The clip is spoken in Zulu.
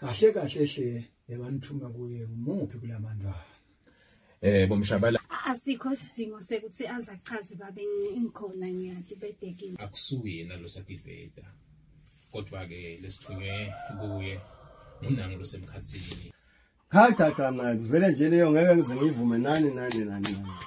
kahle kahle hle lebanithuma kuye ngumuphi kulamandwana eh bomshabala asikho sidingo sekuthi azachaze babe ngikhona ngiyati bedekile akusuyena lo sativeta kodwa ke lesithunywe kuye ngunangu losemkhathini cha cha cha manje vele nje leyo ngeke ngize ngivume nani nani nani nani